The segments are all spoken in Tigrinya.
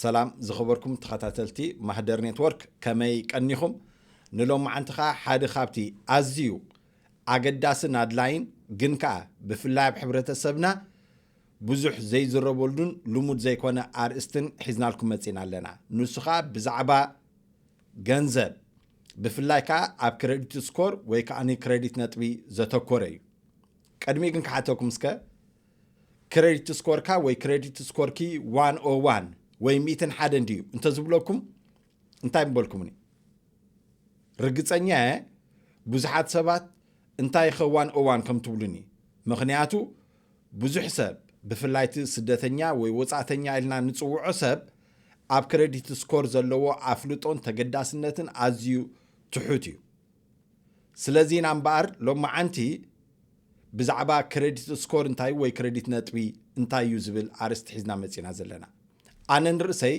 ሰላም ዝኸበርኩም ተኸታተልቲ ማህደር ኔትወርክ ከመይ ቀኒኹም ንሎማዓንቲ ከዓ ሓደ ካብቲ ኣዝዩ ኣገዳስን ኣድላይን ግን ከዓ ብፍላይ ኣብ ሕብረተሰብና ብዙሕ ዘይዝረበሉን ልሙድ ዘይኮነ ኣርእስትን ሒዝናልኩም መጺእና ኣለና። ንሱ ከኣ ብዛዕባ ገንዘብ ብፍላይ ከኣ ኣብ ክረዲት ስኮር ወይ ከኣ ክረዲት ነጥቢ ዘተኮረ እዩ። ቅድሚ ግን ክሓተኩም እስከ ክረዲት ስኮርካ ወይ ክረዲት ስኮርኪ ዋን ኦ ዋን ወይ ሚእትን ሓደን ድዩ እንተዝብለኩም እንታይ ምበልኩምኒ? ርግጸኛ እየ ብዙሓት ሰባት እንታይ ኸዋን እዋን ከም ትብሉኒ ምክንያቱ ብዙሕ ሰብ፣ ብፍላይ እቲ ስደተኛ ወይ ወጻእተኛ ኢልና እንጽውዖ ሰብ፣ ኣብ ክረዲት ስኮር ዘለዎ ኣፍልጦን ተገዳስነትን ኣዝዩ ትሑት እዩ። ስለዚ ኢና እምበኣር ሎማዓንቲ ብዛዕባ ክረዲት ስኮር እንታይ ወይ ክረዲት ነጥቢ እንታይ እዩ ዝብል ኣርእስቲ ሒዝና መጺና ዘለና። ኣነ ንርእሰይ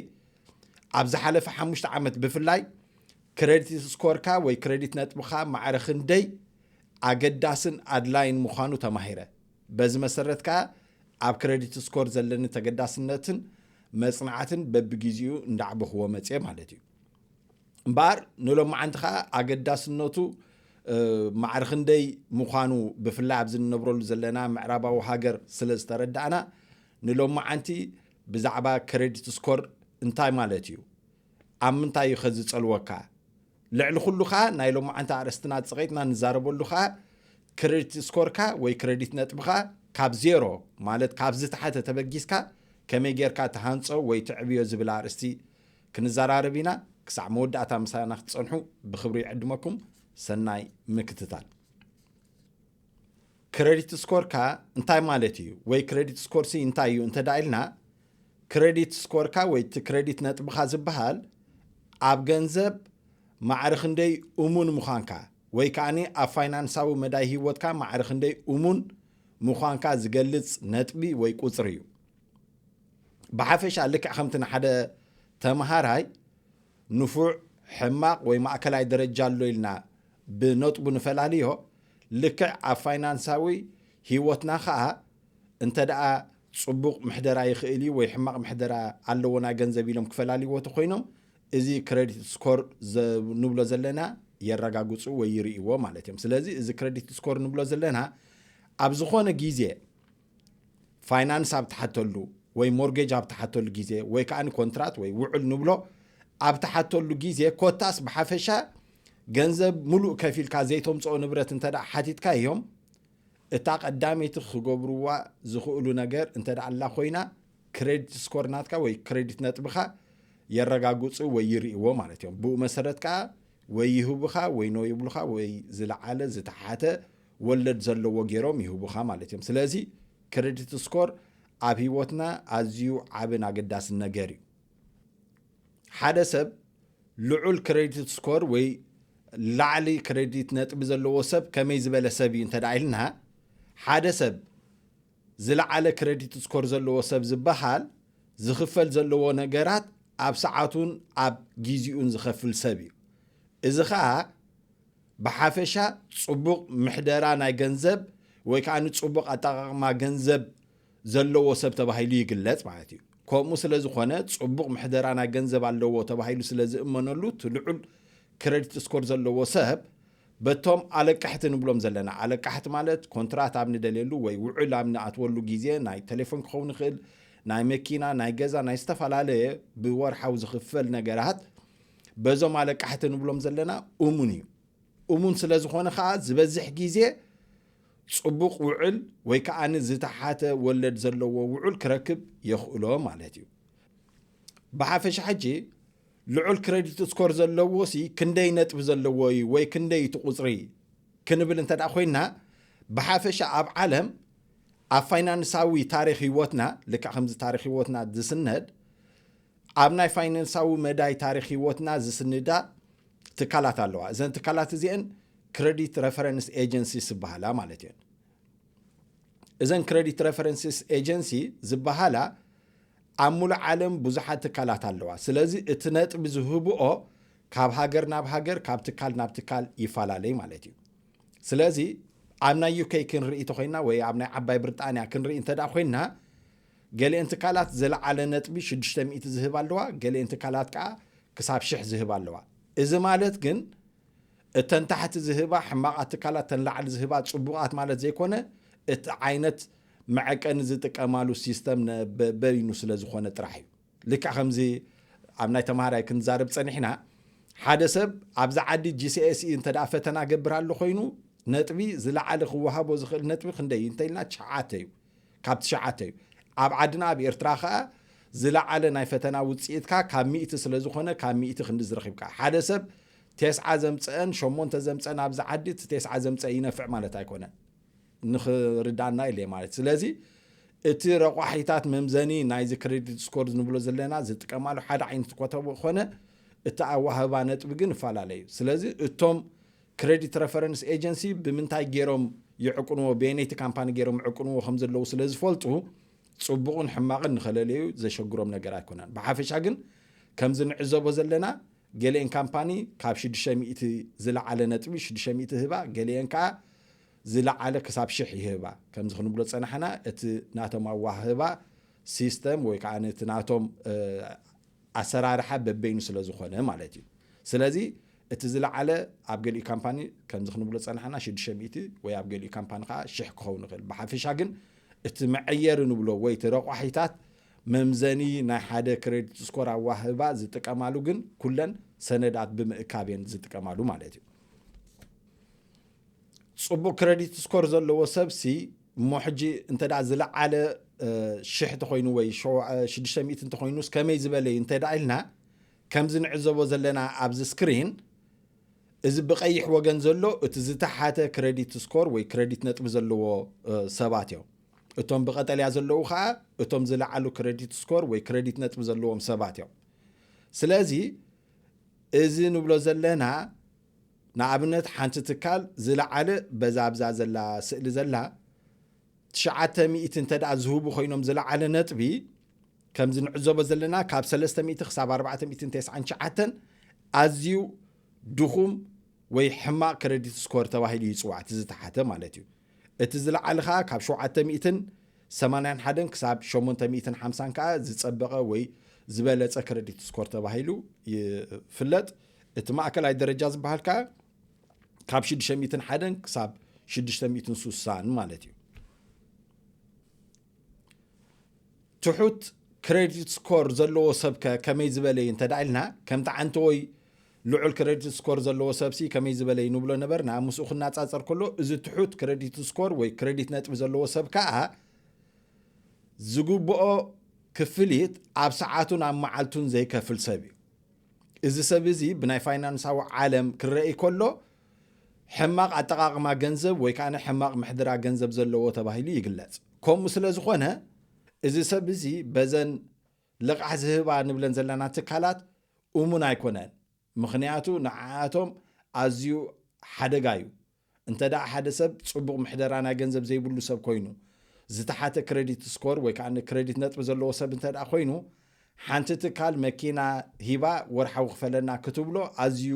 ኣብ ዝሓለፈ ሓሙሽተ ዓመት ብፍላይ ክረዲት ስኮርካ ወይ ክረዲት ነጥብኻ ማዕረ ክንደይ ኣገዳስን ኣድላይን ምዃኑ ተማሂረ። በዚ መሰረት ከኣ ኣብ ክረዲት ስኮር ዘለኒ ተገዳስነትን መጽናዕትን በብጊዜኡ እንዳዕበኹዎ መጽየ ማለት እዩ። እምበኣር ንሎማዓንቲ ከኣ ኣገዳስነቱ ማዕሪ ክንደይ ምዃኑ ብፍላይ ኣብዚ ንነብረሉ ዘለና ምዕራባዊ ሃገር ስለ ዝተረዳእና ንሎማዓንቲ ብዛዕባ ክረዲት ስኮር እንታይ ማለት እዩ ኣብ ምንታይ እዩ ከ ዝጸልወካ ልዕሊ ኩሉ ከኣ ናይ ሎማዓንቲ ኣርእስትና ጽቒጥና ንዛረበሉ ከኣ ክረዲት ስኮርካ ወይ ክረዲት ነጥብኻ ካብ ዜሮ ማለት ካብ ዝተሓተ ተበጊስካ ከመይ ጌርካ ትሃንጾ ወይ ተዕብዮ ዝብል ኣርእስቲ ክንዘራረብ ኢና። ክሳዕ መወዳእታ ምሳና ክትጸንሑ ብክብሪ ይዕድመኩም። ሰናይ ምክትታል። ክረዲት ስኮርካ እንታይ ማለት እዩ ወይ ክረዲት ስኮርሲ እንታይ እዩ እንተድኣ ኢልና ክረዲት ስኮርካ ወይ እቲ ክረዲት ነጥብኻ ዝበሃል ኣብ ገንዘብ ማዕሪ ክንደይ እሙን ምዃንካ ወይ ከኣኒ ኣብ ፋይናንሳዊ መዳይ ህይወትካ ማዕሪ ክንደይ እሙን ምዃንካ ዝገልጽ ነጥቢ ወይ ቁጽሪ እዩ። ብሓፈሻ ልክዕ ከምቲ ንሓደ ተምሃራይ ንፉዕ፣ ሕማቕ ወይ ማእከላይ ደረጃ ኣሎ ኢልና ብነጥቡ ንፈላልዮ፣ ልክዕ ኣብ ፋይናንሳዊ ህይወትና ከኣ እንተደኣ ጽቡቕ ምሕደራ ይኽእል እዩ ወይ ሕማቕ ምሕደራ ኣለዎ ናይ ገንዘብ ኢሎም ክፈላልይዎ ተኮይኖም እዚ ክሬዲት ስኮር ንብሎ ዘለና የረጋግጹ ወይ ይርእይዎ ማለት እዮም ስለዚ እዚ ክሬዲት ስኮር ንብሎ ዘለና ኣብ ዝኾነ ግዜ ፋይናንስ ኣብ ትሓተሉ ወይ ሞርጌጅ ኣብ ትሓተሉ ግዜ ወይ ከዓ ኮንትራት ወይ ውዕል ንብሎ ኣብ ትሓተሉ ግዜ ኮታስ ብሓፈሻ ገንዘብ ሙሉእ ከፊልካ ዘይተምፅኦ ንብረት እንተ ሓቲትካ እዮም እታ ቀዳመይቲ ክገብርዋ ዝኽእሉ ነገር እንተደኣላ ኮይና ክሬዲት ስኮር ናትካ ወይ ክሬዲት ነጥብኻ የረጋግፁ ወይ ይርእዎ ማለት እዮም ብኡ መሰረት ከዓ ወይ ይህቡኻ ወይ ኖ ይብሉኻ ወይ ዝለዓለ ዝተሓተ ወለድ ዘለዎ ገይሮም ይህቡኻ ማለት እዮም ስለዚ ክሬዲት ስኮር ኣብ ህይወትና ኣዝዩ ዓብን ኣገዳስን ነገር እዩ ሓደ ሰብ ልዑል ክሬዲት ስኮር ወይ ላዕሊ ክሬዲት ነጥቢ ዘለዎ ሰብ ከመይ ዝበለ ሰብ እዩ እንተ ኢልና ሓደ ሰብ ዝለዓለ ክሬዲት ስኮር ዘለዎ ሰብ ዝበሃል ዝኽፈል ዘለዎ ነገራት ኣብ ሰዓቱን ኣብ ግዜኡን ዝኸፍል ሰብ እዩ እዚ ከዓ ብሓፈሻ ፅቡቕ ምሕደራ ናይ ገንዘብ ወይ ከዓ ንፅቡቕ ኣጠቃቕማ ገንዘብ ዘለዎ ሰብ ተባሂሉ ይግለጽ ማለት እዩ። ከምኡ ስለ ዝኾነ ጽቡቕ ምሕደራና ገንዘብ ኣለዎ ተባሂሉ ስለ ዝእመነሉ እቲ ልዑል ክረዲት ስኮር ዘለዎ ሰብ በቶም ኣለቃሕቲ ንብሎም ዘለና ኣለቃሕቲ ማለት ኮንትራት ኣብ ንደልየሉ ወይ ውዕል ኣብ ንኣትወሉ ግዜ ናይ ቴሌፎን ክኸውን ይኽእል ናይ መኪና ናይ ገዛ ናይ ዝተፈላለየ ብወርሓዊ ዝኽፈል ነገራት በዞም ኣለቃሕቲ ንብሎም ዘለና እሙን እዩ እሙን ስለ ዝኾነ ከኣ ዝበዝሕ ግዜ ጽቡቕ ውዕል ወይ ከኣ ዝተሓተ ወለድ ዘለዎ ውዑል ክረክብ የኽእሎ ማለት እዩ ብሓፈሻ ሕጂ ልዑል ክረዲት ስኮር ዘለዎ ሲ ክንደይ ነጥቢ ዘለዎ እዩ ወይ ክንደይ እቲ ቁጽሪ ክንብል እንተ ኮይና ብሓፈሻ ኣብ ዓለም ኣብ ፋይናንሳዊ ታሪክ ህይወትና ልክዕ ከምዚ ታሪክ ህይወትና ዝስነድ ኣብ ናይ ፋይናንሳዊ መዳይ ታሪኽ ህይወትና ዝስንዳ ትካላት ኣለዋ። እዘን ትካላት እዚኤን ክረዲት ረፈረንስ ኤጀንሲስ ዝበሃላ ማለት እየን። እዘን ክረዲት ረፈረንስስ ኤጀንሲ ዝበሃላ ኣብ ሙሉእ ዓለም ብዙሓት ትካላት ኣለዋ። ስለዚ እቲ ነጥቢ ዝህብኦ ካብ ሃገር ናብ ሃገር ካብ ትካል ናብ ትካል ይፈላለይ ማለት እዩ ስለዚ ኣብ ናይ ዩከይ ክንርኢ ተኮይና ወይ ኣብ ናይ ዓባይ ብሪጣንያ ክንርኢ እንተ ኮይና ገሊኤን ትካላት ዝለዓለ ነጥቢ ሽዱሽተ ሚእቲ ዝህባ ኣለዋ፣ ገሊኤን ትካላት ከኣ ክሳብ ሽሕ ዝህባ ኣለዋ። እዚ ማለት ግን እተን ታሕቲ ዝህባ ሕማቓት ትካላት እተን ላዕሊ ዝህባ ጽቡቓት ማለት ዘይኮነ፣ እቲ ዓይነት መዐቀኒ ዝጥቀማሉ ሲስተም ነ በይኑ ስለ ዝኾነ ጥራሕ እዩ። ልክዕ ከምዚ ኣብ ናይ ተማሃራይ ክንዛረብ ጸኒሕና፣ ሓደ ሰብ ኣብዚ ዓዲ GCSE እንተደኣ ፈተና ገብር ኣሎ ኮይኑ ነጥቢ ዝለዓለ ክወሃቦ ዝኽእል ነጥቢ ክንደይ እዩ እንተኢልና ትሽዓተ እዩ። ካብ ትሽዓተ እዩ። ኣብ ዓድና ኣብ ኤርትራ ከኣ ዝለዓለ ናይ ፈተና ውጽኢትካ ካብ ሚእቲ ስለ ዝኾነ ካብ ሚእቲ ክንድዚ ረኺብካ። ሓደ ሰብ ቴስዓ ዘምጸአን ሸሞንተ ዘምጸን ኣብዚ ዓዲ እቲ ቴስዓ ዘምጸ ይነፍዕ ማለት ኣይኮነን። ንኽርዳና ኢለ ማለት ስለዚ እቲ ረቋሒታት መምዘኒ ናይዚ ክሬዲት ስኮር ንብሎ ዘለና ዝጥቀማሉ ሓደ ዓይነት ኮተቦ ኮነ እቲ ኣዋህባ ነጥቢ ግን እፈላለዩ ስለዚ እቶም ክረዲት ረፈረንስ ኤጀንሲ ብምንታይ ገይሮም ይዕቁንዎ በየነይቲ ካምፓኒ ገይሮም ይዕቁንዎ ከም ዘለዉ ስለ ዝፈልጡ ጽቡቕን ሕማቕን ንኸለለዩ ዘሸግሮም ነገር ኣይኮነን ብሓፈሻ ግን ከምዚ ንዕዘቦ ዘለና ገሊኤን ካምፓኒ ካብ ሽዱሽተ ሚእቲ ዝለዓለ ነጥቢ ሽዱሽተ ሚእቲ ይህባ ገሊኤን ከዓ ዝለዓለ ክሳብ ሽሕ ይህባ ከምዚ ክንብሎ ፀናሕና እቲ ናቶም ኣዋህህባ ሲስተም ወይ ከዓ እቲ ናቶም ኣሰራርሓ በበይኑ ስለ ዝኾነ ማለት እዩ ስለዚ እቲ ዝለዓለ ኣብ ገሊኡ ካምፓኒ ከምዚ ክንብሎ ዝጸናሕና ሽዱሽተ ሚእቲ ወይ ኣብ ገሊኡ ካምፓኒ ከኣ ሽሕ ክኸውን ይኽእል። ብሓፈሻ ግን እቲ መዐየሪ ንብሎ ወይ እቲ ረቋሒታት መምዘኒ ናይ ሓደ ክረዲት ስኮር ኣዋህባ ዝጥቀማሉ ግን ኩለን ሰነዳት ብምእካብ እየን ዝጥቀማሉ ማለት እዩ። ጽቡቕ ክረዲት ስኮር ዘለዎ ሰብሲ እሞ ሕጂ እንተ ዝለዓለ ሽሕ እንተኾይኑ ወይ ሽዱሽተ ሚእቲ እንተኾይኑስ ከመይ ዝበለ እዩ እንተ ኢልና ከምዚ ንዕዘቦ ዘለና ኣብዚ ስክሪን እዚ ብቀይሕ ወገን ዘሎ እቲ ዝተሓተ ክረዲት ስኮር ወይ ክረዲት ነጥቢ ዘለዎ ሰባት እዮም እቶም ብቀጠልያ ዘለዉ ከዓ እቶም ዝለዓሉ ክረዲት ስኮር ወይ ክረዲት ነጥቢ ዘለዎም ሰባት እዮም ስለዚ እዚ ንብሎ ዘለና ንኣብነት ሓንቲ ትካል ዝለዓለ በዛ ኣብዛ ዘላ ስእሊ ዘላ ትሽዓተ ሚእቲ እንተድኣ ዝህቡ ኮይኖም ዝለዓለ ነጥቢ ከምዚ ንዕዘቦ ዘለና ካብ ሰለስተ ሚእቲ ክሳብ ኣርባዕተ ሚእትን ተስዓን ትሽዓተን ኣዝዩ ድኹም ወይ ሕማቕ ክረዲት ስኮር ተባሂሉ ይጽዋዕ እቲ ዝተሓተ ማለት እዩ እቲ ዝለዓለ ከኣ ካብ ሸውዓተ ሚእትን ሰማንያን ሓደን ክሳብ ሸሞንተ ሚእትን ሓምሳን ከኣ ዝጸበቐ ወይ ዝበለጸ ክረዲት ስኮር ተባሂሉ ይፍለጥ እቲ ማእከላይ ደረጃ ዝበሃል ከኣ ካብ ሽዱሽተ ሚእትን ሓደን ክሳብ ሽዱሽተ ሚእትን ሱሳን ማለት እዩ ትሑት ክሬዲት ስኮር ዘለዎ ሰብ ከ ከመይ ዝበለ እዩ እንተ ኢልና ከምቲ ዓንቲ ወይ ልዑል ክሬዲት ስኮር ዘለዎ ሰብሲ ከመይ ዝበለ እዩ ንብሎ ነበርና ምስኡ ክናፃፀር ከሎ እዚ ትሑት ክሬዲት ስኮር ወይ ክሬዲት ነጥቢ ዘለዎ ሰብ ከዓ ዝግብኦ ክፍሊት ኣብ ሰዓቱን ኣብ መዓልቱን ዘይከፍል ሰብ እዩ እዚ ሰብ እዚ ብናይ ፋይናንሳዊ ዓለም ክረእይ ከሎ ሕማቕ ኣጠቓቕማ ገንዘብ ወይ ከኣ ሕማቕ ምሕድራ ገንዘብ ዘለዎ ተባሂሉ ይግለጽ። ከምኡ ስለ ዝኾነ እዚ ሰብ እዚ በዘን ልቓሕ ዝህባ ንብለን ዘለና ትካላት እሙን ኣይኮነን። ምኽንያቱ ንዓኣቶም ኣዝዩ ሓደጋ እዩ። እንተድኣ ሓደ ሰብ ጽቡቕ ምሕደራ ናይ ገንዘብ ዘይብሉ ሰብ ኮይኑ፣ ዝተሓተ ክረዲት ስኮር ወይ ከኣ ክረዲት ነጥቢ ዘለዎ ሰብ እንተድኣ ኮይኑ፣ ሓንቲ ትካል መኪና ሂባ ወርሓዊ ክፈለና ክትብሎ ኣዝዩ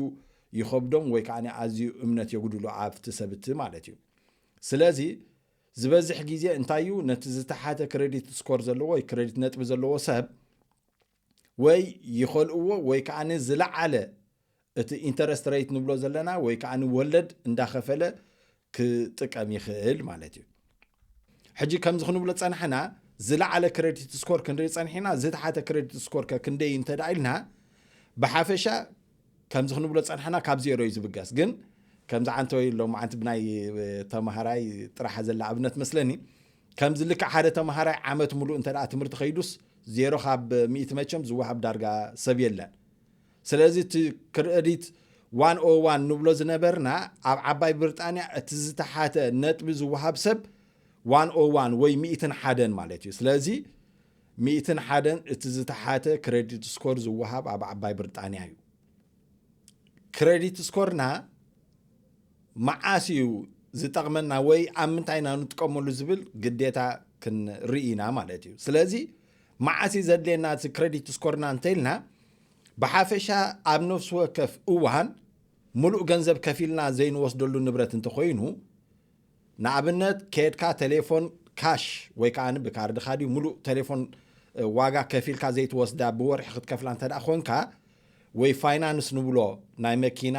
ይኸብዶም ወይ ከኣ ኣዝዩ እምነት የጉድሉ ኣብቲ ሰብ እቲ ማለት እዩ። ስለዚ ዝበዝሕ ግዜ እንታይ እዩ ነቲ ዝተሓተ ክረዲት ስኮር ዘለዎ ወይ ክረዲት ነጥቢ ዘለዎ ሰብ፣ ወይ ይኸልእዎ ወይ ከዓ ዝለዓለ እቲ ኢንተረስት ረይት ንብሎ ዘለና ወይ ከዓ ወለድ እንዳኸፈለ ክጥቀም ይኽእል ማለት እዩ ሕጂ ከምዚ ክንብሎ ፀናሕና ዝለዓለ ክሬዲት ስኮር ክንርኢ ፀኒሕና ዝተሓተ ክሬዲት ስኮር ከ ክንደይ እንተ ኢልና ብሓፈሻ ከምዚ ክንብሎ ፀናሕና ካብ ዜሮ እዩ ዝብገስ ግን ከምዚ ዓንተወይ ሎማዓንቲ ብናይ ተማሃራይ ጥራሕ ዘላ ኣብነት መስለኒ ከምዚ ልክዕ ሓደ ተምሃራይ ዓመት ምሉእ እንተ ትምህርቲ ከይዱስ ዜሮ ካብ ሚእቲ መቸም ዝወሃብ ዳርጋ ሰብ የለን ስለዚ እቲ ክረዲት ዋን ኦ ዋን ንብሎ ዝነበርና ኣብ ዓባይ ብርጣንያ እቲ ዝተሓተ ነጥቢ ዝወሃብ ሰብ ዋን ኦ ዋን ወይ ሚእትን ሓደን ማለት እዩ ስለዚ ሚእትን ሓደን እቲ ዝተሓተ ክረዲት ስኮር ዝወሃብ ኣብ ዓባይ ብርጣንያ እዩ ክረዲት ስኮርና መዓስ እዩ ዝጠቕመና ወይ ኣብ ምንታይ ኢና ንጥቀመሉ ዝብል ግዴታ ክንርኢ ኢና ማለት እዩ ስለዚ መዓስ እዩ ዘድልየና እቲ ክሬዲት ስኮርና እንተኢልና ብሓፈሻ ኣብ ነፍሲ ወከፍ እዋን ሙሉእ ገንዘብ ከፊልና ዘይንወስደሉ ንብረት እንተኮይኑ ንኣብነት ከድካ ቴሌፎን ካሽ ወይ ከዓ ብካርድካ ድዩ ሙሉእ ቴሌፎን ዋጋ ከፊልካ ዘይትወስዳ ብወርሒ ክትከፍላ እንተ ኮንካ ወይ ፋይናንስ ንብሎ ናይ መኪና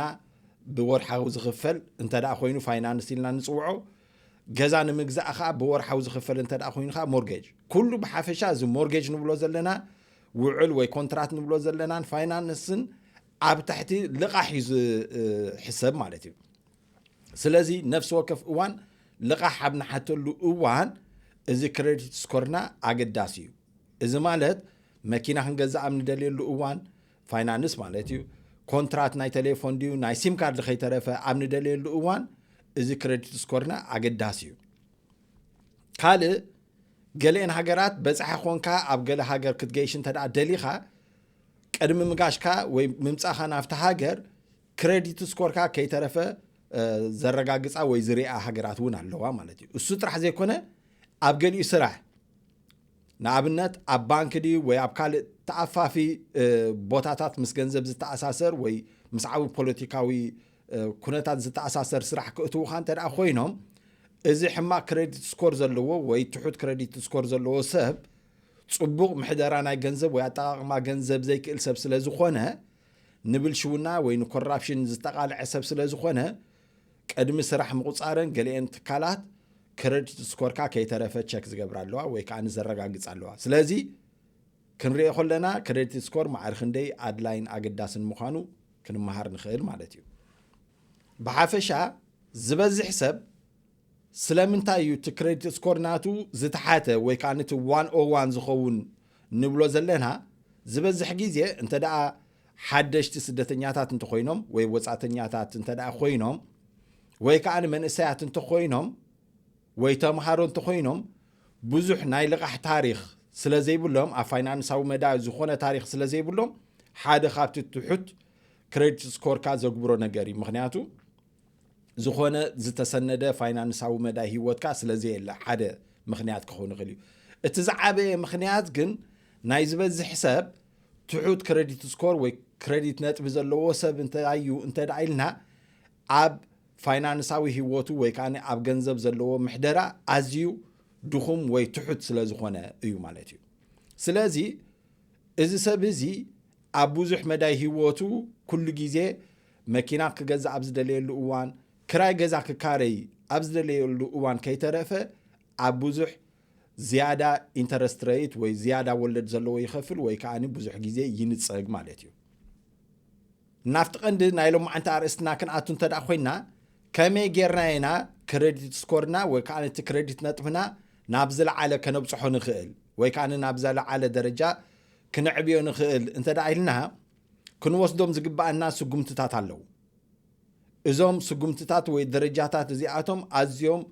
ብወርሓዊ ዝኽፈል እንተ ኮይኑ ፋይናንስ ኢልና ንፅውዖ፣ ገዛ ንምግዛእ ከዓ ብወርሓዊ ዝኽፈል እንተ ኮይኑ ከዓ ሞርጌጅ። ኩሉ ብሓፈሻ እዚ ሞርጌጅ ንብሎ ዘለና ውዕል ወይ ኮንትራት ንብሎ ዘለናን ፋይናንስን ኣብ ትሕቲ ልቓሕ እዩ ዝሕሰብ ማለት እዩ። ስለዚ ነፍሲ ወከፍ እዋን ልቓሕ ኣብ ንሓተሉ እዋን እዚ ክሬዲት ስኮርና ኣገዳሲ እዩ። እዚ ማለት መኪና ክንገዝእ ኣብ ንደልየሉ እዋን፣ ፋይናንስ ማለት እዩ፣ ኮንትራት ናይ ተሌፎን ድዩ ናይ ሲም ካርድ ከይተረፈ ኣብ ንደልየሉ እዋን እዚ ክረዲት ስኮርና ኣገዳሲ እዩ። ካልእ ገለኤን ሃገራት በጻሒ ኮንካ ኣብ ገለ ሃገር ክትገይሽ እንተ ደሊኻ ቅድሚ ምጋሽካ ወይ ምምጻኻ ናብቲ ሃገር ክረዲት ስኮርካ ከይተረፈ ዘረጋግጻ ወይ ዝርኣ ሃገራት እውን ኣለዋ ማለት እዩ እሱ ጥራሕ ዘይኮነ ኣብ ገሊኡ ስራሕ ንኣብነት ኣብ ባንኪ ድዩ ወይ ኣብ ካልእ ተኣፋፊ ቦታታት ምስ ገንዘብ ዝተኣሳሰር ወይ ምስ ዓቢ ፖለቲካዊ ኩነታት ዝተኣሳሰር ስራሕ ክእትዉኻ እንተ ደኣ ኮይኖም እዚ ሕማቅ ክረዲት ስኮር ዘለዎ ወይ ትሑት ክረዲት ስኮር ዘለዎ ሰብ ጽቡቅ ምሕደራ ናይ ገንዘብ ወይ ኣጠቃቅማ ገንዘብ ዘይክእል ሰብ ስለ ዝኾነ ንብልሽውና ወይ ንኮራፕሽን ዝተቃልዐ ሰብ ስለ ዝኾነ ቅድሚ ስራሕ ምቑፃረን ገሊኤን ትካላት ክረዲት ስኮርካ ከይተረፈ ቸክ ዝገብራ ኣለዋ ወይ ከዓ ዘረጋግፃ ኣለዋ። ስለዚ ክንሪኦ ከለና ክረዲት ስኮር ማዕሪ ክንደይ ኣድላይን ኣገዳስን ምዃኑ ክንመሃር ንኽእል ማለት እዩ። ብሓፈሻ ዝበዝሕ ሰብ ስለምንታይ እዩ እቲ ክረዲት ስኮር ናቱ ዝተሓተ ወይ ከዓ ነቲ ዋን ኦ ዋን ዝኸውን ንብሎ ዘለና ዝበዝሕ ግዜ እንተ ደኣ ሓደሽቲ ስደተኛታት እንተኾይኖም ወይ ወፃእተኛታት እንተ ኮይኖም ወይ ከዓ መንእሰያት እንተኾይኖም ወይ ተምሃሮ እንተኾይኖም ብዙሕ ናይ ልቓሕ ታሪክ ስለ ዘይብሎም ኣብ ፋይናንሳዊ መዳ ዝኾነ ታሪክ ስለ ዘይብሎም ሓደ ካብቲ ትሑት ክሬዲት ስኮርካ ዘግብሮ ነገር እዩ ምክንያቱ ዝኾነ ዝተሰነደ ፋይናንሳዊ መዳ ሂወትካ ስለ ዘየለ ሓደ ምክንያት ክኸውን ይኽእል እዩ እቲ ዝዓበየ ምክንያት ግን ናይ ዝበዝሕ ሰብ ትሑት ክረዲት ስኮር ወይ ክረዲት ነጥቢ ዘለዎ ሰብ እንታይ እዩ እንተ ኢልና ኣብ ፋይናንሳዊ ህይወቱ ወይ ከዓ ኣብ ገንዘብ ዘለዎ ምሕደራ ኣዝዩ ድኹም ወይ ትሑት ስለ ዝኾነ እዩ ማለት እዩ ስለዚ እዚ ሰብ እዚ ኣብ ብዙሕ መዳይ ህይወቱ ኩሉ ግዜ መኪና ክገዛእ ኣብ ዝደለየሉ እዋን ክራይ ገዛ ክካረይ ኣብ ዝደለየሉ እዋን ከይተረፈ ኣብ ብዙሕ ዝያዳ ኢንተረስት ረይት ወይ ዝያዳ ወለድ ዘለዎ ይኸፍል ወይ ከዓኒ ብዙሕ ግዜ ይንጸግ ማለት እዩ። ናብቲ ቀንዲ ናይ ሎማዓንቲ ኣርእስትና ክንኣቱ እንተ ደኣ ኮይና ከመይ ጌርና ኢና ክረዲት ስኮርና ወይ ከዓ ነቲ ክረዲት ነጥብና ናብ ዝለዓለ ከነብጽሖ ንኽእል ወይ ከዓ ናብ ዘለዓለ ደረጃ ክንዕብዮ ንኽእል እንተ ደኣ ኢልና ክንወስዶም ዝግባኣና ስጉምትታት ኣለዉ። እዞም ስጉምትታት ወይ ደረጃታት እዚኣቶም ኣዝዮም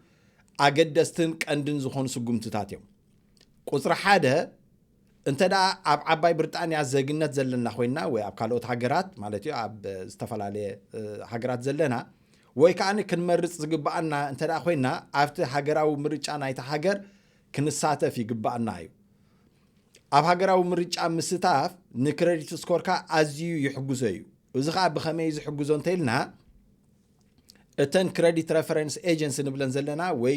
ኣገደስትን ቀንድን ዝኾኑ ስጉምትታት እዮም። ቁጽሪ ሓደ እንተ ደኣ ኣብ ዓባይ ብርጣንያ ዘግነት ዘለና ኮይንና ወይ ኣብ ካልኦት ሃገራት ማለት እዩ ኣብ ዝተፈላለየ ሃገራት ዘለና ወይ ከኣ ክንመርጽ ዝግብኣና እንተ ደኣ ኮይንና ኣብቲ ሃገራዊ ምርጫ ናይቲ ሃገር ክንሳተፍ ይግብኣና እዩ። ኣብ ሃገራዊ ምርጫ ምስታፍ ንክረዲት ስኮርካ ኣዝዩ ይሕግዞ እዩ። እዚ ከዓ ብኸመይ ዝሕግዞ እንተይልና እተን ክረዲት ረፈረንስ ኤጀንሲ ንብለን ዘለና ወይ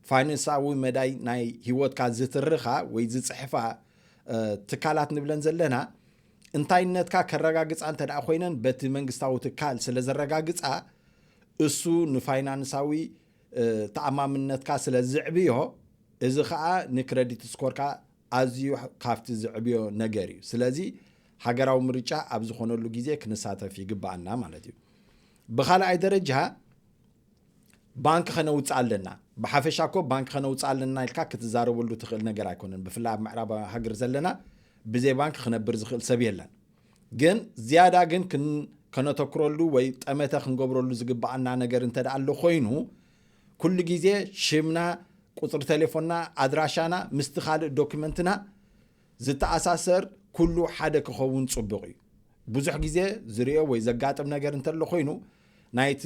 ፋይናንሳዊ መዳይ ናይ ሂወትካ ዝትርኻ ወይ ዝፅሕፋ ትካላት ንብለን ዘለና እንታይነትካ ከረጋግፃ እንተ ኮይነን በቲ መንግስታዊ ትካል ስለ ዘረጋግፃ እሱ ንፋይናንሳዊ ተኣማምነትካ ስለ ዝዕብዮ እዚ ከኣ ንክረዲት ስኮርካ ኣዝዩ ካብቲ ዝዕብዮ ነገር እዩ ስለዚ ሃገራዊ ምርጫ ኣብ ዝኾነሉ ግዜ ክንሳተፍ ይግባኣና ማለት እዩ ብኻልኣይ ደረጃ ባንኪ ከነውፅእ ኣለና ብሓፈሻ እኮ ባንኪ ከነውፅእ ኣለና ኢልካ ክትዛረበሉ ትኽእል ነገር ኣይኮነን ብፍላይ ኣብ ምዕራባዊ ሃገር ዘለና ብዘይ ባንኪ ክነብር ዝኽእል ሰብ የለን ግን ዝያዳ ግን ከነተኩረሉ ወይ ጠመተ ክንገብረሉ ዝግብኣና ነገር እንተ ኣሎ ኮይኑ ኩሉ ግዜ ሽምና ቁፅሪ ቴሌፎንና ኣድራሻና ምስቲ ካልእ ዶክመንትና ዝተኣሳሰር ኩሉ ሓደ ክኸውን ፅቡቕ እዩ ብዙሕ ግዜ ዝርኦ ወይ ዘጋጥም ነገር እንተሎ ኮይኑ ናይቲ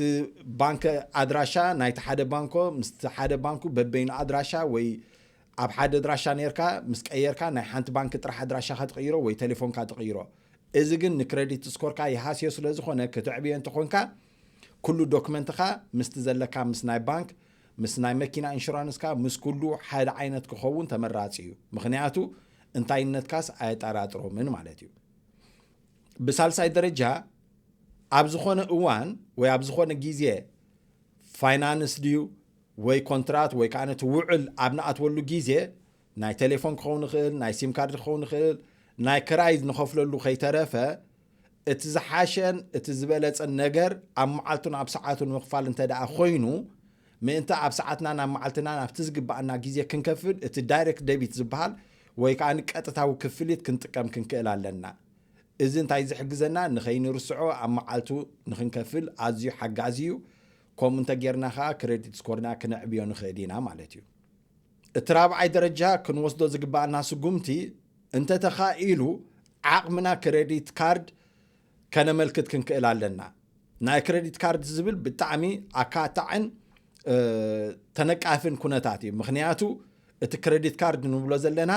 ባንክ ኣድራሻ ናይቲ ሓደ ባንኮ ምስቲ ሓደ ባንኩ በበይኑ ኣድራሻ ወይ ኣብ ሓደ ኣድራሻ ኔርካ ምስ ቀየርካ ናይ ሓንቲ ባንኪ ጥራሕ ኣድራሻኻ ትቕይሮ ወይ ተሌፎንካ ትቕይሮ። እዚ ግን ንክረዲት ስኮርካ ይሃስዮ ስለዝኾነ ክተዕብዮ እንተኾንካ ኩሉ ዶክመንትኻ ምስቲ ዘለካ ምስ ናይ ባንክ ምስ ናይ መኪና እንሹራንስካ ምስ ኩሉ ሓደ ዓይነት ክኸውን ተመራጺ እዩ ምኽንያቱ እንታይነትካስ ኣየጠራጥሮምን ማለት እዩ። ብሳልሳይ ደረጃ ኣብ ዝኾነ እዋን ወይ ኣብ ዝኾነ ግዜ ፋይናንስ ድዩ ወይ ኮንትራት ወይ ከኣ እቲ ውዕል ኣብ ንኣትወሉ ግዜ ናይ ቴሌፎን ክኸውን ይኽእል፣ ናይ ሲም ካርድ ክኸውን ይኽእል፣ ናይ ክራይ ንኸፍለሉ ከይተረፈ እቲ ዝሓሸን እቲ ዝበለጸን ነገር ኣብ መዓልቱን ኣብ ሰዓቱን ምኽፋል እንተደኣ ኮይኑ ምእንቲ ኣብ ሰዓትናን ኣብ መዓልትናን ኣብቲ ዝግባኣና ግዜ ክንከፍል እቲ ዳይሬክት ደቢት ዝበሃል ወይ ከኣ ቀጥታዊ ክፍሊት ክንጥቀም ክንክእል ኣለና። እዚ እንታይ ዝሕግዘና ንኸይንርስዖ ኣብ መዓልቱ ንኽንከፍል ኣዝዩ ሓጋዚ እዩ። ከምኡ እንተ ጌርና ኸኣ ክረዲት ስኮርና ክነዕብዮ ንኽእል ኢና ማለት እዩ። እቲ ራብዓይ ደረጃ ክንወስዶ ዝግብኣና ስጉምቲ እንተ ተኻኢሉ ዓቕምና ክረዲት ካርድ ከነመልክት ክንክእል ኣለና። ናይ ክረዲት ካርድ ዝብል ብጣዕሚ ኣካታዕን ተነቃፍን ኩነታት እዩ። ምክንያቱ እቲ ክረዲት ካርድ ንብሎ ዘለና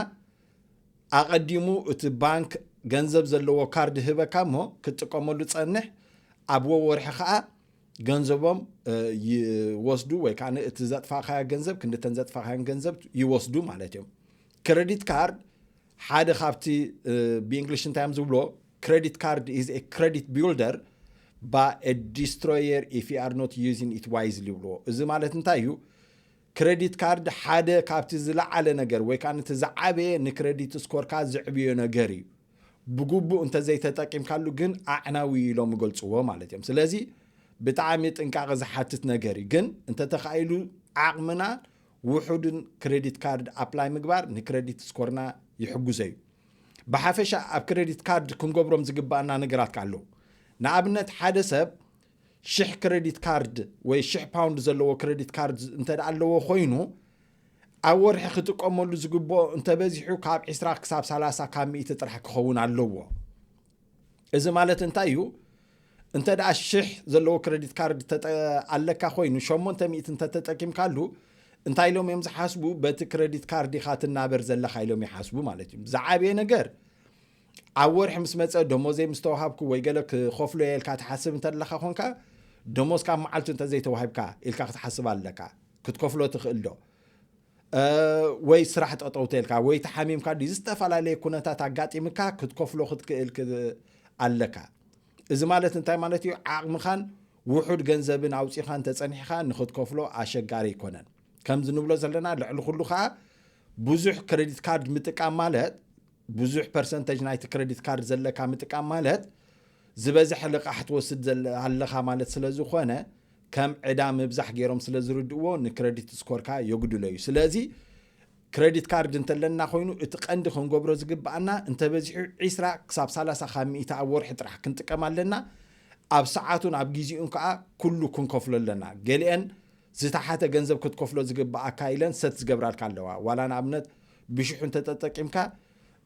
ኣቐዲሙ እቲ ባንክ ገንዘብ ዘለዎ ካርድ ህበካ እሞ ክትጥቀመሉ ጸንሕ ኣብ ወወርሒ ከኣ ገንዘቦም ይወስዱ ወይ ከዓ እቲ ዘጥፋእኻዮ ገንዘብ ክንዲ ተን ዘጥፋእኻዮን ገንዘብ ይወስዱ ማለት እዮም ክሬዲት ካርድ ሓደ ካብቲ ብእንግሊሽ እንታይ እዮም ዝብሎ ክሬዲት ካርድ ኢዝ ኤ ክሬዲት ቢልደር ባ ዲስትሮየር ኢፍ ዩ ኣር ኖት ዩዚን ኢት ዋይዝሊ ይብልዎ እዚ ማለት እንታይ እዩ ክረዲት ካርድ ሓደ ካብቲ ዝለዓለ ነገር ወይ ከኣ እቲ ዝዓበየ ንክረዲት ስኮርካ ዘዕብዮ ነገር እዩ። ብግቡእ እንተዘይተጠቂምካሉ ግን ኣዕናዊ እዩ ኢሎም ይገልጽዎ ማለት እዮም። ስለዚ ብጣዕሚ ጥንቃቐ ዝሓትት ነገር እዩ። ግን እንተተኻኢሉ ዓቕምና ውሑድን ክረዲት ካርድ ኣፕላይ ምግባር ንክረዲት ስኮርና ይሕግዞ እዩ። ብሓፈሻ ኣብ ክረዲት ካርድ ክንገብሮም ዝግበኣና ነገራት ከኣ ኣለዉ። ንኣብነት ሓደ ሰብ ሽሕ ክረዲት ካርድ ወይ ሽሕ ፓውንድ ዘለዎ ክረዲት ካርድ እንተ ኣለዎ ኮይኑ ኣብ ወርሒ ክጥቀመሉ ዝግብኦ እንተበዚሑ ካብ 20 ክሳብ 30 ካብ ሚእቲ ጥራሕ ክኸውን ኣለዎ እዚ ማለት እንታይ እዩ እንተ ደኣ ሽሕ ዘለዎ ክረዲት ካርድ ኣለካ ኮይኑ 800 እንተተጠቂምካሉ እንታይ ኢሎም እዮም ዝሓስቡ በቲ ክረዲት ካርድ ኢኻ ትናበር ዘለካ ኢሎም ይሓስቡ ማለት እዩ ዝዓበየ ነገር ኣብ ወርሒ ምስ መጸ ደሞዘይ ምስ ተዋሃብኩ ወይ ገለ ክኸፍሎ እየ ኢልካ ትሓስብ እንተለኻ ኾንካ ደሞዝካ ኣብ መዓልቱ እንተዘይተዋሂብካ ኢልካ ክትሓስብ ኣለካ ክትከፍሎ ትኽእል ዶ ወይ ስራሕ ጠጠው ተልካ ወይ ተሓሚምካ ድዩ ዝተፈላለየ ኩነታት ኣጋጢምካ ክትከፍሎ ክትክእል ኣለካ እዚ ማለት እንታይ ማለት እዩ ዓቕምኻን ውሑድ ገንዘብን ኣውፂኻ እንተፀኒሕኻ ንክትከፍሎ ኣሸጋሪ ኣይኮነን ከምዚ ንብሎ ዘለና ልዕሊ ኩሉ ከዓ ብዙሕ ክሬዲት ካርድ ምጥቃም ማለት ብዙሕ ፐርሰንተጅ ናይቲ ክረዲት ካርድ ዘለካ ምጥቃም ማለት ዝበዝሐ ልቓሕ ትወስድ ኣለኻ ማለት ስለ ዝኾነ ከም ዕዳ ምብዛሕ ገይሮም ስለ ዝርድእዎ ንክረዲት ስኮርካ የጉድሎ እዩ ስለዚ ክረዲት ካርድ እንተለና ኮይኑ እቲ ቀንዲ ክንገብሮ ዝግብኣና እንተበዚሑ 20 ክሳብ 30 ካብ ሚእቲ ኣብ ወርሒ ጥራሕ ክንጥቀም ኣለና ኣብ ሰዓቱን ኣብ ግዜኡን ከዓ ኩሉ ክንከፍሎ ኣለና ገሊአን ዝተሓተ ገንዘብ ክትከፍሎ ዝግብኣካ ኢለን ሰት ዝገብራልካ ኣለዋ ዋላ ንኣብነት ብሽሑ እንተተጠቂምካ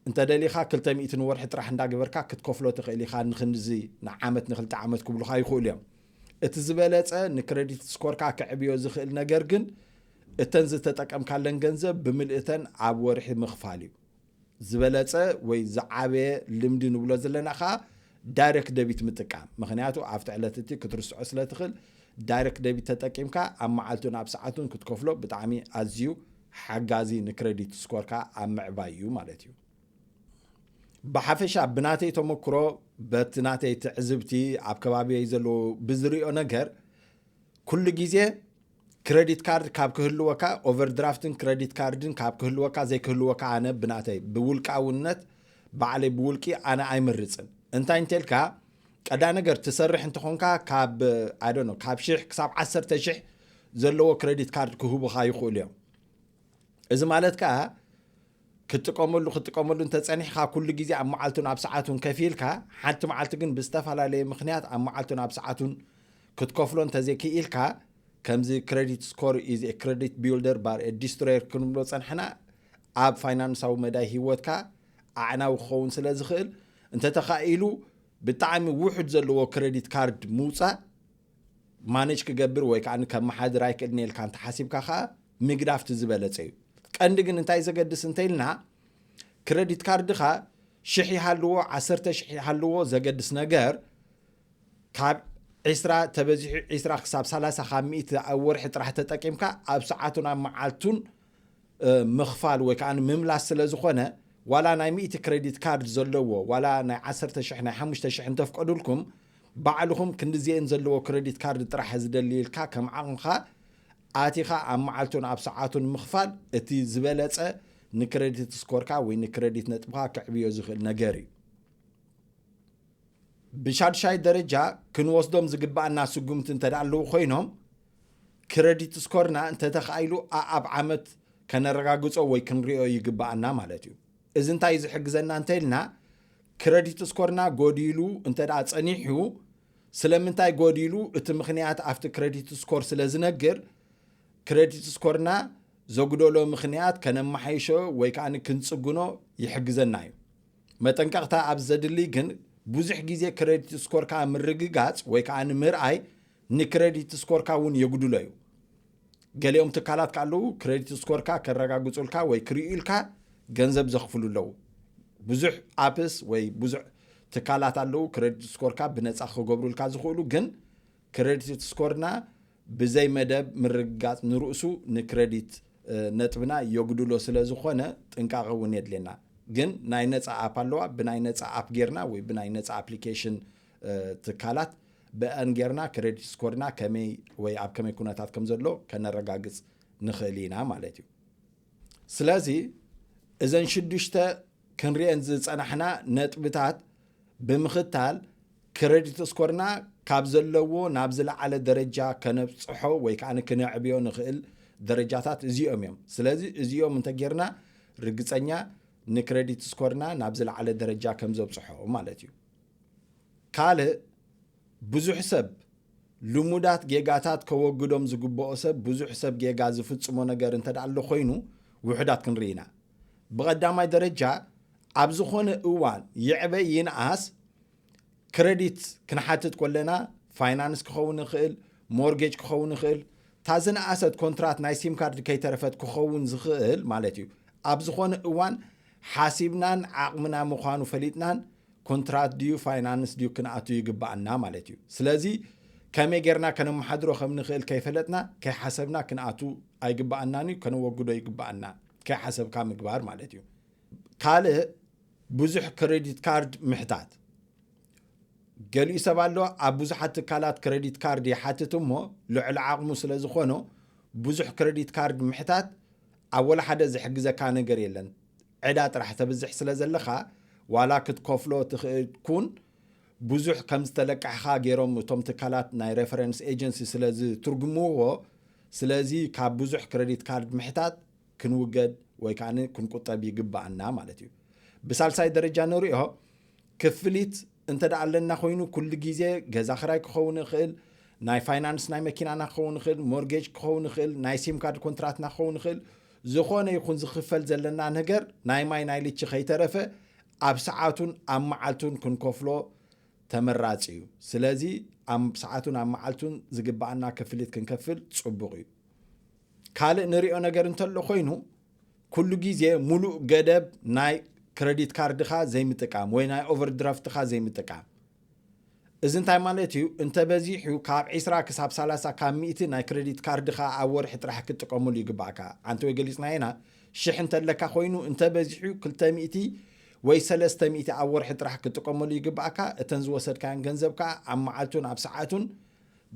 እንተደሊኻ ክልተ ሚእቲ ንወርሒ ጥራሕ እንዳገበርካ ክትከፍሎ ትኽእል ኢኻ ንክንድዚ ንዓመት ንክልተ ዓመት ክብሉኻ ይኽእሉ እዮም እቲ ዝበለጸ ንክረዲት ስኮርካ ክዕብዮ ዝኽእል ነገር ግን እተን ዝተጠቀምካለን ገንዘብ ብምልእተን ኣብ ወርሒ ምኽፋል እዩ ዝበለጸ ወይ ዝዓበየ ልምዲ ንብሎ ዘለና ከኣ ዳይሬክት ደቢት ምጥቃም ምክንያቱ ኣብቲ ዕለት እቲ ክትርስዖ ስለ ትኽእል ዳይሬክት ደቢት ተጠቂምካ ኣብ መዓልቱን ኣብ ሰዓቱን ክትከፍሎ ብጣዕሚ ኣዝዩ ሓጋዚ ንክረዲት ስኮርካ ኣብ ምዕባይ እዩ ማለት እዩ። ብሓፈሻ ብናተይ ተመክሮ በቲ ናተይ ትዕዝብቲ ኣብ ከባቢየይ ዘለዎ ብዝሪኦ ነገር ኩሉ ግዜ ክረዲት ካርድ ካብ ክህልወካ ኦቨርድራፍትን ክረዲት ካርድን ካብ ክህልወካ ዘይክህልወካ ኣነ ብናተይ ብውልቃውነት ባዕለይ ብውልቂ ኣነ ኣይመርፅን እንታይ እንተልካ ቀዳይ ነገር ትሰርሕ እንተኾንካ ካብ ኣይ ዶንት ኖ ካብ ሽሕ ክሳብ ዓሰርተ ሽሕ ዘለዎ ክሬዲት ካርድ ክህቡኻ ይኽእሉ እዮም እዚ ማለት ከዓ ክትጥቀመሉ ክትጥቀመሉ እንተፀኒሕካ ኩሉ ግዜ ኣብ መዓልቱን ኣብ ሰዓቱን ከፊልካ ሓንቲ መዓልቲ ግን ብዝተፈላለየ ምክንያት ኣብ መዓልቱን ኣብ ሰዓቱን ክትከፍሎ እንተዘይክኢልካ ከምዚ ክሬዲት ስኮር ኢዝ ክሬዲት ቢልደር ባር ዲስትሮየር ክንብሎ ፀንሕና ኣብ ፋይናንሳዊ መዳይ ሂወትካ ኣዕናዊ ክኸውን ስለ ዝኽእል እንተተኻኢሉ ብጣዕሚ ውሑድ ዘለዎ ክረዲት ካርድ ምውፃእ ማነጅ ክገብር ወይ ከዓ ከመሓድር ኣይክእልን ኢልካ እንተሓሲብካ ከዓ ምግዳፍ እቲ ዝበለፀ እዩ ቀንዲ ግን እንታይ ዘገድስ እንተኢልና ክረዲት ካርድኻ ሽሕ ይሃልዎ ዓሰርተ ሽሕ ይሃልዎ ዘገድስ ነገር ካብ ዒስራ ተበዚሑ ዒስራ ክሳብ ሰላሳ ካብ ሚእቲ ኣብ ወርሒ ጥራሕ ተጠቂምካ ኣብ ሰዓቱን ኣብ መዓልቱን ምኽፋል ወይ ከኣ ምምላስ ስለ ዝኾነ ዋላ ናይ ሚእቲ ክረዲት ካርድ ዘለዎ ዋላ ናይ ዓሰርተ ሽሕ ናይ ሓሙሽተ ሽሕ እንተፍቀዱልኩም ባዕልኹም ክንድዚኤን ዘለዎ ክረዲት ካርድ ጥራሕ ዝደሊ ኢልካ ከም ዓቕምኻ ኣቲኻ ኣብ መዓልቱን ኣብ ሰዓቱን ምኽፋል እቲ ዝበለጸ ንክረዲት ስኮርካ ወይ ንክረዲት ነጥብኻ ከዕብዮ ዝኽእል ነገር እዩ። ብሻድሻይ ደረጃ ክንወስዶም ዝግባኣና ስጉምቲ እንተደኣ ኣለዉ ኮይኖም ክረዲት ስኮርና እንተተኻኢሉ ኣኣብ ዓመት ከነረጋግጾ ወይ ክንሪኦ ይግባኣና ማለት እዩ። እዚ እንታይ እዩ ዝሕግዘና እንተኢልና ክረዲት ስኮርና ጎዲሉ እንተደኣ ጸኒሑ ስለምንታይ ጎዲሉ እቲ ምኽንያት ኣብቲ ክረዲት ስኮር ስለ ዝነግር ክረዲት ስኮርና ዘጉደሎ ምኽንያት ከነመሓይሾ ወይ ከኣ ክንጽግኖ ይሕግዘና እዩ። መጠንቀቕታ ኣብ ዘድልይ ግን ብዙሕ ግዜ ክረዲት ስኮርካ ምርግጋጽ ወይ ከዓ ንምርኣይ ንክረዲት ስኮርካ እውን የጉድሎ እዩ። ገሊኦም ትካላት ከ ኣለዉ ክረዲት ስኮርካ ከረጋግጹልካ ወይ ክርእዩልካ ገንዘብ ዘኽፍሉ ኣለዉ። ብዙሕ ኣፕስ ወይ ብዙሕ ትካላት ኣለዉ ክረዲት ስኮርካ ብነፃ ክገብሩልካ ዝኽእሉ ግን ክረዲት ስኮርና ብዘይ መደብ ምርግጋጽ ንርእሱ ንክረዲት ነጥብና የጉድሎ ስለ ዝኾነ ጥንቃቐ እውን የድልየና። ግን ናይ ነፃ ኣፕ ኣለዋ ብናይ ነፃ ኣፕ ጌርና ወይ ብናይ ነፃ ኣፕሊኬሽን ትካላት ብአን ጌርና ክሬዲት ስኮርና ከመይ ወይ ኣብ ከመይ ኩነታት ከም ዘሎ ከነረጋግፅ ንኽእል ኢና ማለት እዩ ስለዚ እዘን ሽዱሽተ ክንሪኤን ዝፀናሕና ነጥብታት ብምኽታል ክረዲት ስኮርና ካብ ዘለዎ ናብ ዝለዓለ ደረጃ ከነብፅሖ ወይ ከዓ ክነዕብዮ ንኽእል ደረጃታት እዚኦም እዮም ስለዚ እዚኦም እንተጌርና ርግፀኛ ንክረዲት ስኮርና ናብ ዝለዓለ ደረጃ ከም ዘብፅሖ ማለት እዩ ካልእ ብዙሕ ሰብ ልሙዳት ጌጋታት ከወግዶም ዝግበኦ ሰብ ብዙሕ ሰብ ጌጋ ዝፍጽሞ ነገር እንተ ኣሎ ኮይኑ ውሑዳት ክንርኢ ኢና። ብቐዳማይ ደረጃ ኣብ ዝኾነ እዋን ይዕበ ይንኣስ ክረዲት ክንሓትት ኮለና ፋይናንስ ክኸውን ይኽእል፣ ሞርጌጅ ክኸውን ይኽእል፣ እታ ዝነኣሰት ኮንትራት ናይ ሲም ካርድ ከይተረፈት ክኸውን ዝኽእል ማለት እዩ። ኣብ ዝኾነ እዋን ሓሲብናን ዓቕምና ምዃኑ ፈሊጥናን ኮንትራት ድዩ ፋይናንስ ድዩ ክንኣቱ ይግባኣና ማለት እዩ ስለዚ ከመይ ጌርና ከነመሓድሮ ከም ንኽእል ከይፈለጥና ከይሓሰብና ክንኣቱ ኣይግባኣናን እዩ ከነወግዶ ይግባኣና ከይሓሰብካ ምግባር ማለት እዩ ካልእ ብዙሕ ክሬዲት ካርድ ምሕታት ገሊኡ ሰብ ኣሎ ኣብ ብዙሓት ትካላት ክረዲት ካርድ ይሓትት እሞ ልዕሊ ዓቕሙ ስለ ዝኾኖ ብዙሕ ክረዲት ካርድ ምሕታት ኣብ ወላ ሓደ ዝሕግዘካ ነገር የለን ዕዳ ጥራሕ ተብዝሕ ስለ ዘለኻ ዋላ ክትከፍሎ ትኽእል ኩን ብዙሕ ከም ዝተለቃሕኻ ጌሮም እቶም ትካላት ናይ ሬፈረንስ ኤጀንሲ ስለ ዝትርጉምዎ ስለዚ ካብ ብዙሕ ክረዲት ካርድ ምሕታት ክንውገድ ወይ ከኣ ክንቁጠብ ይግበኣና ማለት እዩ። ብሳልሳይ ደረጃ ንሪኦ ክፍሊት እንተ ኣለና ኮይኑ ኩሉ ግዜ ገዛ ክራይ ክኸውን ይኽእል፣ ናይ ፋይናንስ ናይ መኪናና ክኸውን ይኽእል፣ ሞርጌጅ ክኸውን ይኽእል፣ ናይ ሲም ካርድ ኮንትራትና ክኸውን ይኽእል፣ ዝኾነ ይኹን ዝኽፈል ዘለና ነገር ናይ ማይ ናይ ልቺ ከይተረፈ ኣብ ሰዓቱን ኣብ መዓልቱን ክንከፍሎ ተመራጺ እዩ። ስለዚ ኣብ ሰዓቱን ኣብ መዓልቱን ዝግባኣና ክፍሊት ክንከፍል ጽቡቕ እዩ። ካልእ ንሪኦ ነገር እንተሎ ኮይኑ ኩሉ ግዜ ሙሉእ ገደብ ናይ ክረዲት ካርድኻ ዘይምጥቃም ወይ ናይ ኦቨርድራፍትኻ ዘይምጥቃም እዚ እንታይ ማለት እዩ እንተበዚሑ ካብ 20 ክሳብ 30 ካብ ሚእቲ ናይ ክረዲት ካርድኻ ኣብ ወርሒ ጥራሕ ክትጥቀመሉ ይግባእካ ኣንቲ ወይ ገሊፅና ኢና ሽሕ እንተለካ ኮይኑ እንተበዚሑ 200 ወይ 300 ኣብ ወርሒ ጥራሕ ክትጥቀመሉ ይግባእካ እተን ዝወሰድካዮን ገንዘብ ከዓ ኣብ መዓልቱን ኣብ ሰዓቱን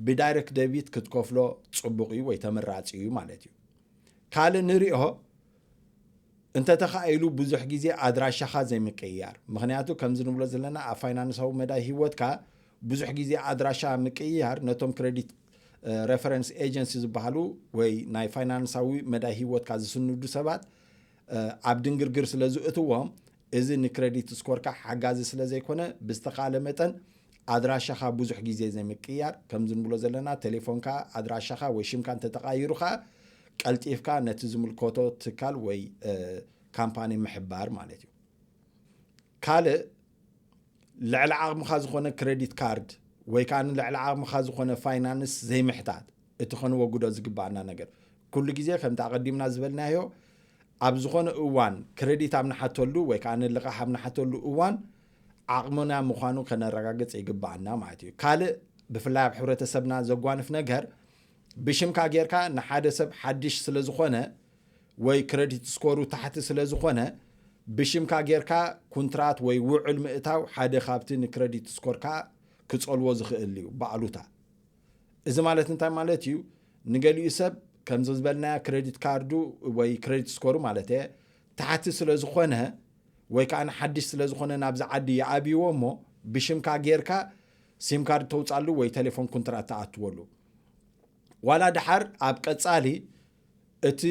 ብዳይሬክት ደቢት ክትከፍሎ ፅቡቕ እዩ ወይ ተመራፂ እዩ ማለት እዩ ካልእ ንሪኦ እንተተኻኢሉ ብዙሕ ግዜ ኣድራሻኻ ዘይምቅይያር ምክንያቱ ከምዚ ንብሎ ዘለና ኣብ ፋይናንሳዊ መዳይ ሂወትካ ብዙሕ ግዜ ኣድራሻ ምቅይያር ነቶም ክሬዲት ሬፈረንስ ኤጀንሲ ዝበሃሉ ወይ ናይ ፋይናንሳዊ መዳይ ሂወትካ ዝስንዱ ሰባት ኣብ ድንግርግር ስለ ዝእትዎም እዚ ንክረዲት ስኮርካ ሓጋዚ ስለ ዘይኮነ ብዝተኻእለ መጠን ኣድራሻኻ ብዙሕ ግዜ ዘይምቅያር፣ ከምዚ ንብሎ ዘለና ቴሌፎንካ፣ ኣድራሻኻ ወይ ሽምካ እንተተቓይሩ ከኣ ቀልጢፍካ ነቲ ዝምልከቶ ትካል ወይ ካምፓኒ ምሕባር ማለት እዩ። ካልእ ልዕሊ ዓቕምኻ ዝኾነ ክረዲት ካርድ ወይ ከኣ ልዕሊ ዓቕምኻ ዝኾነ ፋይናንስ ዘይምሕታት እቲ ከንወግዶ ዝግባኣና ነገር ኩሉ ግዜ ከምቲ ኣቐዲምና ዝበልናዮ ኣብ ዝኾነ እዋን ክረዲት ኣብ ንሓተሉ ወይ ከኣ ልቓሕ ኣብ ንሓተሉ እዋን ዓቕምና ምዃኑ ከነረጋግጽ ይግብኣና ማለት እዩ። ካልእ ብፍላይ ኣብ ሕብረተሰብና ዘጓንፍ ነገር ብሽምካ ጌርካ ንሓደ ሰብ ሓድሽ ስለ ዝኾነ ወይ ክረዲት ስኮሩ ታሕቲ ስለ ዝኾነ ብሽምካ ጌርካ ኩንትራት ወይ ውዕል ምእታው ሓደ ካብቲ ንክረዲት ስኮርካ ክጸልዎ ዝኽእል እዩ ብኣሉታ እዚ ማለት እንታይ ማለት እዩ? ንገሊኡ ሰብ ከምዚ ዝበልናዮ ክሬዲት ካርዱ ወይ ክሬዲት ስኮሩ ማለት እየ ታሕቲ ስለ ዝኾነ ወይ ከዓ ሓድሽ ስለ ዝኾነ ናብዚ ዓዲ ይኣብይዎ እሞ ብሽምካ ጌርካ ሲም ካርድ ተውፃሉ ወይ ቴሌፎን ኩንትራት ተኣትወሉ ዋላ ድሓር ኣብ ቀፃሊ እቲ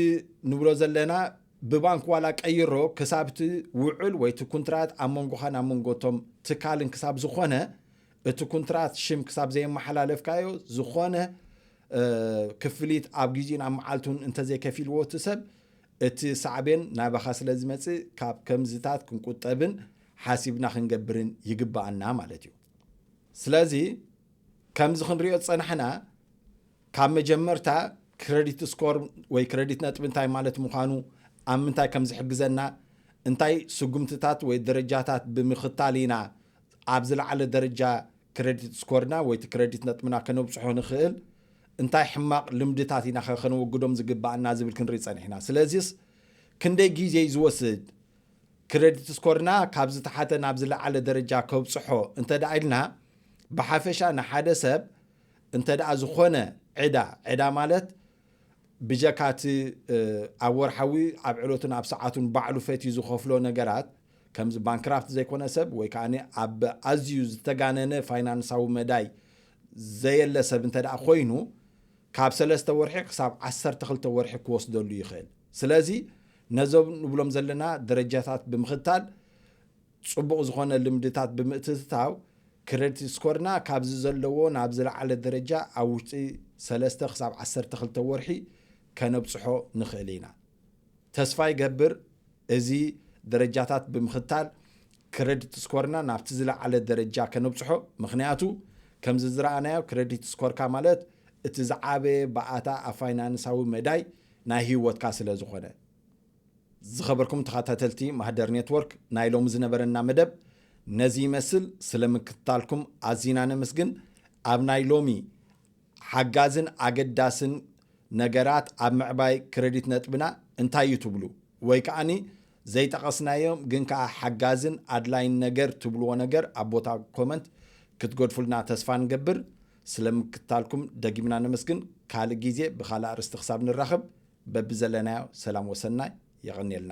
ንብሎ ዘለና ብባንክ ዋላ ቀይሮ ክሳብ እቲ ውዕል ወይ እቲ ኩንትራት ኣብ መንጎኻን ኣብ መንጎቶም ትካልን ክሳብ ዝኾነ እቲ ኩንትራት ሽም ክሳብ ዘየመሓላለፍካዮ ዝኾነ ክፍሊት ኣብ ግዜኡን ኣብ መዓልቱን እንተዘይከፊልዎ እቲ ሰብ እቲ ሳዕቤን ናባኻ ስለ ዝመጽእ ካብ ከምዝታት ክንቁጠብን ሓሲብና ክንገብርን ይግባኣና ማለት እዩ ስለዚ ከምዚ ክንሪኦ ዝጸናሕና ካብ መጀመርታ ክረዲት ስኮር ወይ ክረዲት ነጥቢ እንታይ ማለት ምዃኑ ኣብ ምንታይ ከም ዝሕግዘና እንታይ ስጉምትታት ወይ ደረጃታት ብምኽታል ኢና ኣብ ዝለዓለ ደረጃ ክረዲት ስኮርና ወይ እቲ ክረዲት ነጥብና ከነብጽሖ ንኽእል እንታይ ሕማቕ ልምድታት ኢናኸ ከነወግዶም ዝግባእና ዝብል ክንርኢ ጸኒሕና። ስለዚስ ክንደይ ግዜ'ዩ ዝወስድ? ክረዲት ስኮርና ካብ ዝተሓተ ናብ ዝለዓለ ደረጃ ከብጽሖ እንተድኣ ኢልና ብሓፈሻ ንሓደ ሰብ እንተድኣ ዝኾነ ዕዳ ዕዳ ማለት ብጀካ እቲ ኣብ ወርሓዊ ኣብ ዕለቱን ኣብ ሰዓቱን ባዕሉ ፈትዩ ዝኸፍሎ ነገራት ከምዚ ባንክራፍት ዘይኮነ ሰብ ወይ ከኣ ኣብ ኣዝዩ ዝተጋነነ ፋይናንሳዊ መዳይ ዘየለ ሰብ እንተ ደኣ ኮይኑ ካብ ሰለስተ ወርሒ ክሳብ ዓሰርተ ክልተ ወርሒ ክወስደሉ ይኽእል ስለዚ ነዞም ንብሎም ዘለና ደረጃታት ብምኽታል ጽቡቕ ዝኾነ ልምድታት ብምእትትታው ክረዲት ስኮርና ካብዚ ዘለዎ ናብ ዝለዓለ ደረጃ ኣብ ውሽጢ ሰለስተ ክሳብ ዓሰርተ ክልተ ወርሒ ከነብጽሖ ንኽእል ኢና ተስፋ ይገብር እዚ ደረጃታት ብምኽታል ክረዲት ስኮርና ናብቲ ዝለዓለ ደረጃ ከነብጽሖ፣ ምኽንያቱ ከምዚ ዝረኣናዮ ክረዲት ስኮርካ ማለት እቲ ዝዓበየ ባኣታ ኣብ ፋይናንሳዊ መዳይ ናይ ሂወትካ ስለዝኾነ። ዝኸበርኩም ተኸታተልቲ ማህደር ኔትወርክ ናይ ሎሚ ዝነበረና መደብ ነዚ ይመስል ስለምክትታልኩም ኣዚና ነመስግን ኣብ ናይ ሎሚ ሓጋዝን ኣገዳስን ነገራት ኣብ ምዕባይ ክረዲት ነጥብና እንታይ እዩ ትብሉ? ወይ ከኣኒ ዘይጠቐስናዮም ግን ከኣ ሓጋዝን ኣድላይን ነገር ትብልዎ ነገር ኣብ ቦታ ኮመንት ክትገድፉልና ተስፋ ንገብር። ስለ ምክትታልኩም ደጊምና ነመስግን። ካልእ ግዜ ብካልእ ኣርእስቲ ክሳብ ንራኸብ በብዘለናዮ ሰላም ወሰናይ። የቐንየልና።